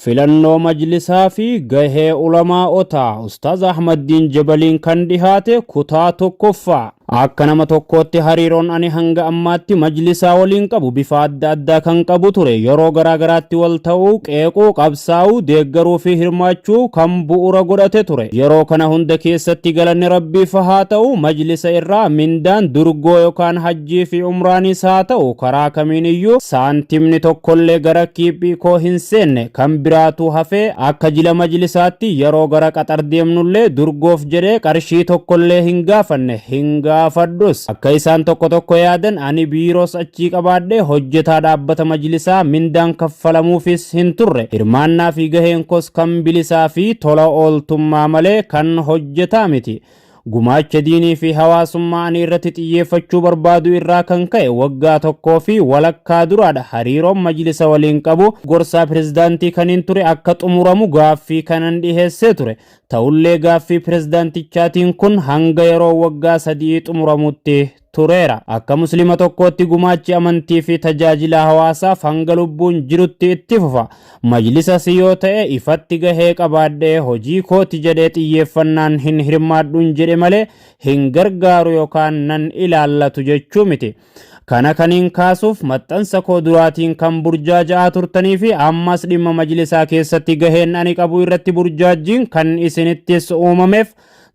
Filannoo Majlisaa fi Gahee Ulamaa'otaa Ustaaz Ahmaddiin Jabaliin kan dhihaate kutaa tokkoffaa. Akka nama tokkootti hariiroon ani hanga ammaatti Majlisaa waliin qabu bifa adda addaa kan qabu ture. Yeroo garaa garaatti wal ta'uu, qeequu, qabsaa'uu, deeggaruu fi hirmaachuu kan bu'uura godhate ture. Yeroo kana hunda keessatti galanni Rabbiif haa ta'u, Majlisa irraa mindaan durgoo yookaan hajjii Hajjii fi umraanis haa ta'u karaa kamiin iyyuu saantimni tokkollee gara kiiphii koo hin seenne kan biraatuu hafee akka jila majlisaatti yeroo gara qaxar deemnullee durgoof jedhee qarshii tokkollee hin gaafanne hin gaafadhus akka isaan tokko tokko yaadan ani biiroos achii qabaadhee hojjetaa dhaabbata majlisaa mindaan kaffalamuufis hin turre hirmaannaa fi gaheen koos kan bilisaa fi tola ooltummaa malee kan hojjetaa miti Gumaacha diinii fi hawaasummaa ani irratti xiyyeeffachuu barbaadu irraa kan ka'e waggaa tokkoo fi walakkaa duraadha hariiroon majlisa waliin qabu gorsaa pirezidaantii kaniin ture akka xumuramu gaaffii kanan dhiheessee ture. Ta'ullee gaaffii pirezidaantichaatiin kun hanga yeroo waggaa sadi'ii xumuramutti tureera. Akka Muslima tokkootti gumaachi amantii fi tajaajila hawaasaaf hanga lubbuun jirutti itti fufa. Majlisas yoo ta'e ifatti gahee qabaadhee hojii kooti jedhee xiyyeeffannaan hin hirmaadhuun jedhe malee hin gargaaru yookaan nan ilaallatu jechuu miti. Kana kaniin kaasuuf maxxansa koo duraatiin kan burjaaja'aa turtanii fi ammas dhimma majlisaa keessatti gaheen ani qabu irratti burjaajjiin kan isinittis uumameef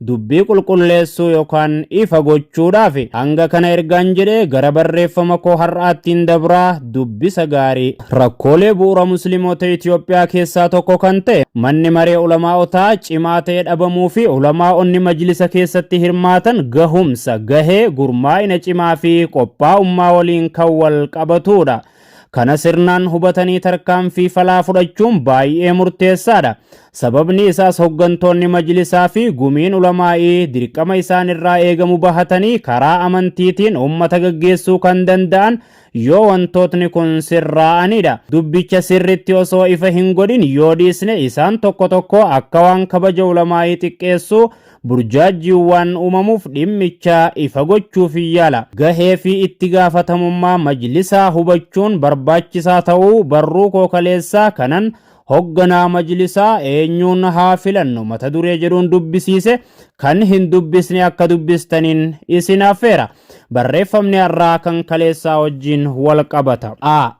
Dubbii qulqulleessuu yookaan ifa gochuudhaaf hanga kana ergaan jedhee gara barreeffama koo har'aattiin dabraa dubbisa gaarii. Rakkoolee bu'uura Muslimoota Itiyoophiyaa keessaa tokko kan ta'e manni maree ulamaa'otaa cimaa ta'e dhabamuu fi ulamaa'onni majlisa keessatti hirmaatan gahumsa, gahee, gurmaa'ina cimaa fi qophaa'ummaa waliin kan wal qabatuudha. Kana sirnaan hubatanii tarkaanfii falaa fudhachuun baay'ee murteessaadha. Sababni isaas hoggantoonni majlisaa fi gumiin ulamaa'ii dirqama isaan irraa eegamu bahatanii karaa amantiitiin ummata gaggeessuu kan danda'an yoo wantootni kun sirraa'anidha. Dubbicha sirritti osoo ifa hin godhin yoo dhiisne isaan tokko tokko akka waan kabaja ulamaa'ii xiqqeessuu burjaajjiiwwaan uumamuuf dhimmicha ifa gochuuf yaala. Gahee fi itti gaafatamummaa majlisaa hubachuun barbaachisaa ta'uu barruu koo kaleessaa kanan hogganaa majlisaa eenyuun haa filannu mata duree jedhuun dubbisiise kan hin dubbisne akka dubbistaniin isin affeera. Barreeffamni har'aa kan kaleessaa wajjin wal qabata. a.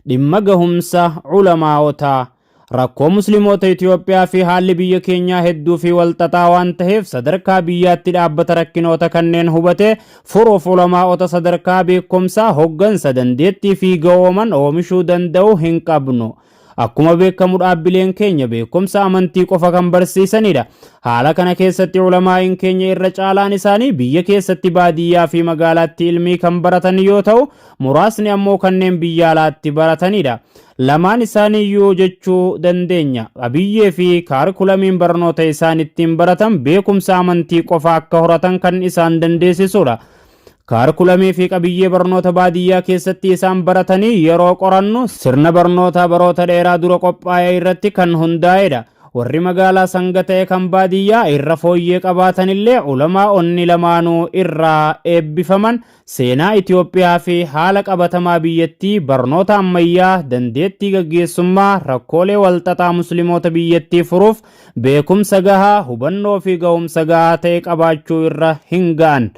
Dhimma gahumsa Ulamaa'otaa. Rakkoo Muslimoota Itiyoophiyaa fi haalli biyya keenyaa hedduu fi wal xaxaa waan taheef sadarkaa biyyaatti dhaabbata rakkinoota kanneen hubate furuuf Ulamaa'ota sadarkaa beekkomsaa, hoggansa, dandeettii fi ga'ooman oomishuu danda'u hin qabnu. Akkuma beekkamu dhaabbileen keenya beekkomsa amantii qofa kan barsiisanidha. Haala kana keessatti Ulamaa'iin keenya irra caalaan isaanii biyya keessatti baadiyyaa fi magaalaatti ilmii kan baratan yoo ta'u, muraasni ammoo kanneen biyya alaatti baratanidha. Lamaan isaaniiyyuu jechuu dandeenya. Qabiyyee fi kaarikulamiin barnoota isaan ittiin baratan beekumsa amantii qofa akka horatan kan isaan dandeessisudha. Kaarikulamii fi qabiyyee barnoota baadiyyaa keessatti isaan baratanii yeroo qorannu sirna barnootaa baroota dheeraa dura qophaa'e irratti kan hundaa'edha. Warri magaalaa sanga ta'e kan baadiyyaa irra fooyyee qabaatanillee ulamaa onni lamaanuu irraa eebbifaman Seenaa Itoophiyaa fi haala qabatamaa biyyattii, barnoota ammayyaa, dandeettii gaggeessummaa, rakkoolee walxaxaa Muslimoota biyyattii furuuf beekumsa gahaa, hubannoo fi gahumsa gahaa ta'e qabaachuu irra hin ga'an.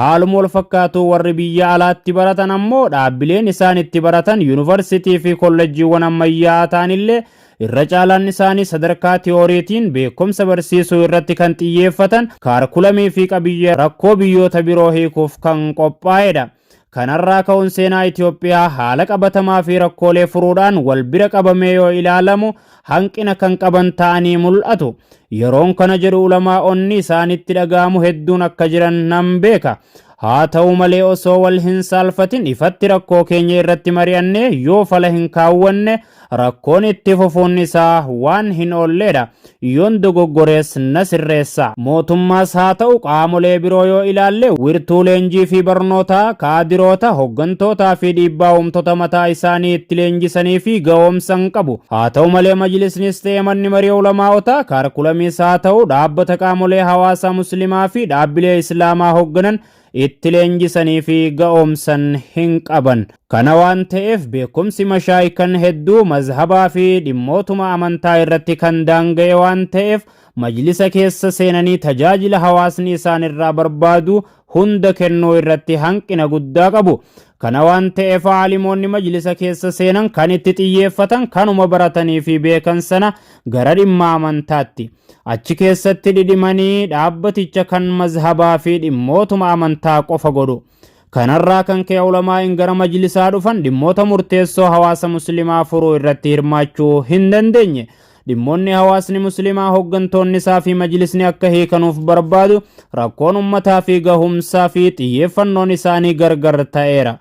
Haaluma walfakkaatuun warri biyya alaatti baratan ammoo dhaabbileen isaan itti baratan yunivarsitii fi kollejjiiwwan ammayyaa'aa ta'anillee Irra caalaan isaanii sadarkaa tiyooriitiin beekumsa barsiisuu irratti kan xiyyeeffatan, kaarkulamii fi qabiyyee rakkoo biyyoota biroo hiikuuf kan qophaa'edha. Kanarraa ka'uun seenaa Itoophiyaa haala qabatamaa fi rakkoolee furuudhaan wal bira qabamee yoo ilaalamu hanqina kan qaban ta'anii mul'atu. Yeroon kana jedhu ulamaa'onni isaanitti dhaga'amu hedduun akka jiran nan beeka. Haa ta'u malee osoo wal hin saalfatin ifatti rakkoo keenya irratti mari'annee yoo fala hin kaawwanne Rakkoon itti fufuun isaa waan hin oolleedha. Yoon dogoggorees na sirreessa. Mootummaas haa ta'u qaamolee biroo yoo ilaalle wirtuu leenjii fi barnootaa, kaadiroota, hoggantootaa fi dhiibbaa uumtota mataa isaanii itti leenjisanii fi ga'oomsan qabu. Haa ta'u malee Majlisnis ta'e Manni Marii Ulamaa'otaa kaarkulamiis haa ta'u dhaabbata qaamolee hawaasaa Muslimaa fi dhaabbilee Islaamaa hogganan itti leenjisanii fi ga'oomsan hin qaban. Kana waan ta'eef beekumsi mashaayikan hedduu mazhabaa fi dhimmootuma amantaa irratti kan daanga'e waan ta'eef majlisa keessa seenanii tajaajila hawaasni isaan irraa barbaadu hunda kennuu irratti hanqina guddaa qabu. Kana waan ta'eef aalimoonni majlisa keessa seenan kan itti xiyyeeffatan kanuma baratanii fi beekan sana gara dhimma amantaatti. Achi keessatti dhidhimanii dhaabbaticha kan mazhabaa fi dhimmootuma amantaa qofa godhu. Kanarraa kan ka'e ulamaa'in gara majlisaa dhufan dhimmoota murteessoo hawaasa muslimaa furuu irratti hirmaachuu hin dandeenye. Dhimmoonni hawaasni muslimaa hooggantoonni isaa fi majlisni akka hiikanuuf barbaadu rakkoon ummataa fi gahumsaa fi xiyyeeffannoon isaanii gargar ta'eera.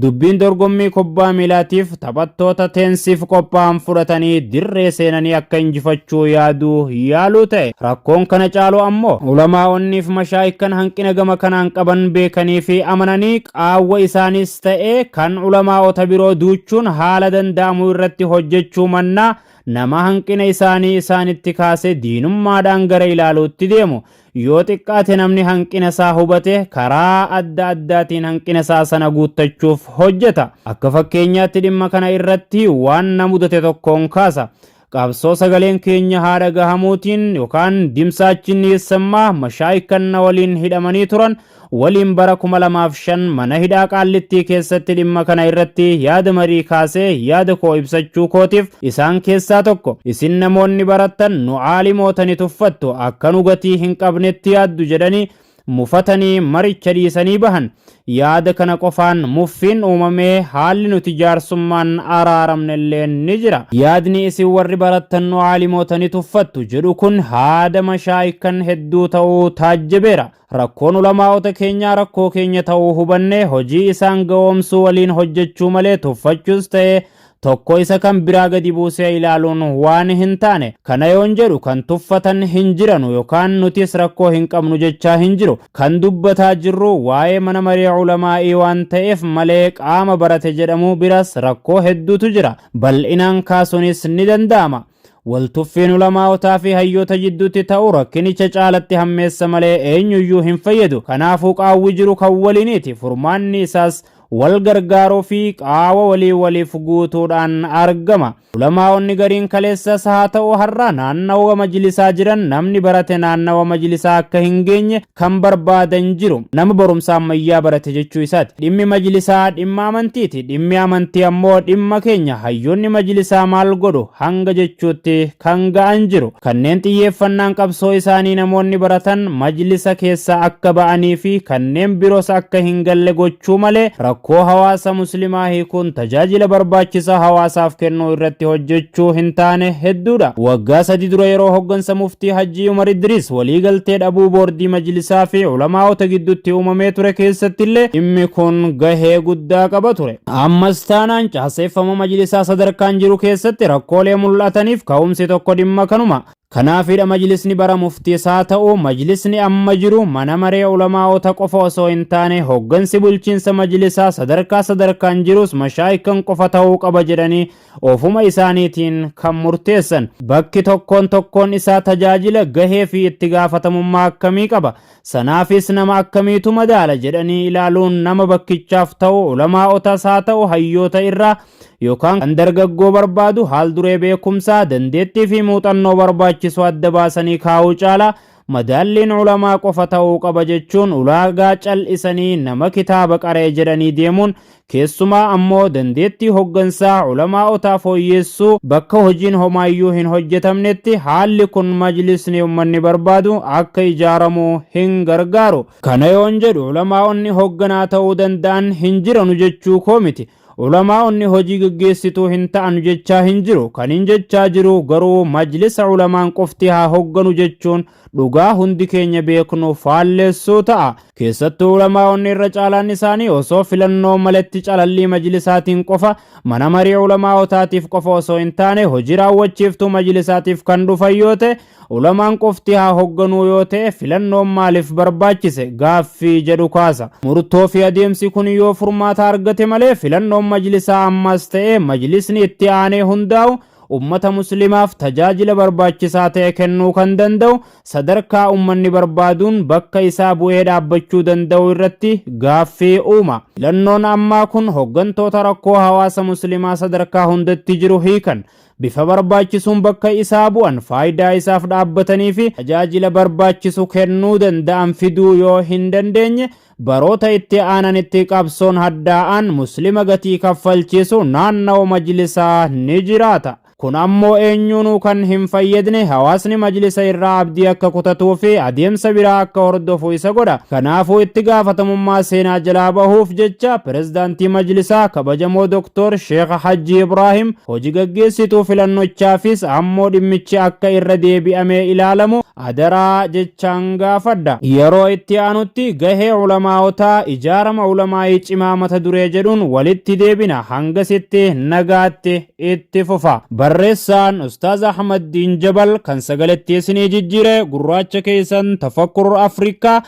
Dubbiin dorgommii kubbaa miilaatiif taphattoota teensiif qophaa'an fudhatanii dirree seenanii akka injifachuu yaaduu yaaluu ta'e. Rakkoon kana caalu ammoo ulamaa'onniif mashaayikkan hanqina gama kanaan qaban beekanii fi amananii qaawwa isaaniis ta'ee kan ulamaa'ota biroo duuchuun haala danda'amu irratti hojjechuu mannaa nama hanqina isaanii isaanitti kaase diinummaadhaan gara ilaaluutti deemu. Yoo xiqqaate namni hanqina isaa hubate karaa adda addaatiin hanqina isaa sana guuttachuuf hojjeta. Akka fakkeenyaatti dhimma kana irratti waan na mudate tokkoon kaasa. Qabsoo sagaleen keenya haa dhagahamuutiin yookaan dimsaachiin dhiyeessammaa mashaayikan na waliin hidhamanii turan waliin bara 2005 mana hidhaa Qaallittii keessatti dhimma kana irratti yaada marii kaasee yaada koo ibsachuu kootiif isaan keessaa tokko isin namoonni barattan nu aalimoota ni tuffattu akka nu gatii hin qabnetti yaaddu jedhanii mufatanii maricha dhiisanii bahan. Yaada kana qofaan muffiin uumamee haalli nuti jaarsummaan araaramne illee ni jira. Yaadni isin warri barattan nu aalimoota ni tuffattu jedhu kun haada mashaayikkan hedduu ta'uu taajjabeera. Rakkoon ulamaa'ota keenyaa rakkoo keenya ta'uu hubannee hojii isaan ga'oomsuu waliin hojjechuu malee tuffachuus ta'e tokko isa kan biraa gadi buusee ilaaluun waan hin taane. Kana yoon jedhu kan tuffatan hin jiranu yokaan nutis rakkoo hin qabnu jechaa hin jiru. Kan dubbataa jirru waa'ee mana maree ulamaa'ii waan ta'eef malee qaama barate jedhamu biras rakkoo hedduutu jira. Bal'inaan kaasuunis ni danda'ama. Waltuffiin ulamaa'otaa fi hayyoota jidduutti ta'u rakkinicha caalatti hammeessa malee eenyuyyuu hin fayyadu. Kanaafuu qaawwi jiru kan waliiniiti. Furmaanni isaas wal gargaaruu fi qaawa walii waliif guutuudhaan argama. Ulamaa'onni gariin kaleessas haa ta'u har'a naannawa majlisaa jiran namni barate naannawa majlisaa akka hin geenye, kan barbaadan jiru nama barumsa ammayyaa barate jechuu isaati. Dhimmi majlisaa dhimma amantiiti. Dhimmi amantii ammoo dhimma keenya hayyoonni majlisaa maal godhu hanga jechuutti kan ga'an jiru. Kanneen xiyyeeffannaan qabsoo isaanii namoonni baratan majlisa keessaa akka ba'anii fi kanneen biros akka hin galle gochuu malee rakkoo hawaasa muslimaa hiikuun tajaajila barbaachisaa hawaasaaf kennuu irratti hojjechuu hin taane hedduudha. Waggaa sadi dura yeroo hoggansa muftii Hajji Umar Idris waliigaltee dhabuu boordii majlisaa fi ulamaa'ota gidduutti uumamee ture keessattillee dhimmi kun gahee guddaa qaba ture. Ammas taanaan caaseeffama majlisaa sadarkaan jiru keessatti rakkoolee mul'ataniif ka'umsi tokko dhimma kanuma. Kanaafidha majlisni bara muftiis haa ta'u majlisni amma jiru mana maree ulamaa'ota qofa osoo hin taane hoggansi bulchiinsa majlisaa sadarkaa sadarkaan jirus mashaayikhan qofa ta'uu qaba jedhanii ofuma isaaniitiin kan murteessan. Bakki tokkoon tokkoon isaa tajaajila, gahee fi itti gaafatamummaa akkamii qaba? Sanaafis nama akkamiitu madaala jedhanii ilaaluun nama bakkichaaf ta'u ulamaa'otas haa ta'u hayyoota irraa yookaan kan dargaggoo barbaadu haal duree beekumsaa, dandeettii fi muuxannoo barbaachisu adda baasanii kaa'uu caalaa Madaalliin ulamaa qofa ta'uu qaba jechuun ulaagaa cal'isanii nama kitaaba qara'e jedhanii deemuun keessumaa ammoo dandeettii hoggansaa ulamaa'otaa fooyyeessuu bakka hojiin homaayyuu hin hojjetamnetti haalli kun majlisni ummanni barbaadu akka ijaaramu hin gargaaru. Kana yoon jedhu ulamaa'onni hogganaa ta'uu danda'an hin jiranu jechuu koo miti. Ulamaa'onni hojii geggeessituu hin ta'anu jechaa hin jiru. Kaniin jechaa jiru garuu majlisa ulamaan qofti haa hogganu jechuun dhugaa hundi keenya beeknu faalleessuu ta'a. Keessattuu ulamaa'onni irra caalaan isaanii osoo filannoo maletti calallii majlisaatiin qofa, mana marii ulamaa'otaatiif qofa osoo hin taane hojii raawwachiiftuu majlisaatiif kan dhufan yoo ta'e, Ulamaan qofti haa hogganuu yoo ta'e filannoon maaliif barbaachise gaaffii jedhu kaasa. Murtoo fi adeemsi kun yoo furmaata argate malee filannoon majlisaa ammaas ta'ee majlisni itti aanee hundaa'u ummata muslimaaf tajaajila barbaachisaa ta'e kennuu kan danda'u sadarkaa ummanni barbaaduun bakka isaa bu'ee dhaabbachuu danda'u irratti gaaffii uuma. Filannoon ammaa kun hoggantoota rakkoo hawaasa muslimaa sadarkaa hundatti jiru hiikan bifa barbaachisuun bakka isaa bu'an faayidaa isaaf dhaabbatanii fi tajaajila barbaachisu kennuu danda'an fiduu yoo hin dandeenye baroota itti aananitti qabsoon haddaa'aan muslima gatii kaffalchiisu naannawa majlisaa ni jiraata. Kun ammoo eenyuunuu kan hin fayyadne hawaasni majlisa irraa abdii akka kutatuu fi adeemsa biraa akka hordofu isa godha. Kanaafuu itti gaafatamummaa seenaa jalaa bahuuf jecha pirezidaantii majlisaa kabajamoo Dooktor Sheekh Hajji Ibraahim Hoji gaggeessituu filannochaafis ammoo dhimmichi akka irra deebi'amee ilaalamu adaraa jechaan gaafadha. Yeroo itti aanutti gahee ulamaa'otaa, ijaarama ulamaa'ii cimaa mata duree jedhuun walitti deebina. Hangasitti nagaatti itti fufa. Barreessaan Ustaaz Ahmaddiin Jabal kan sagalettii isinii jijjiire gurraacha keessan Tafakkur Afrikaa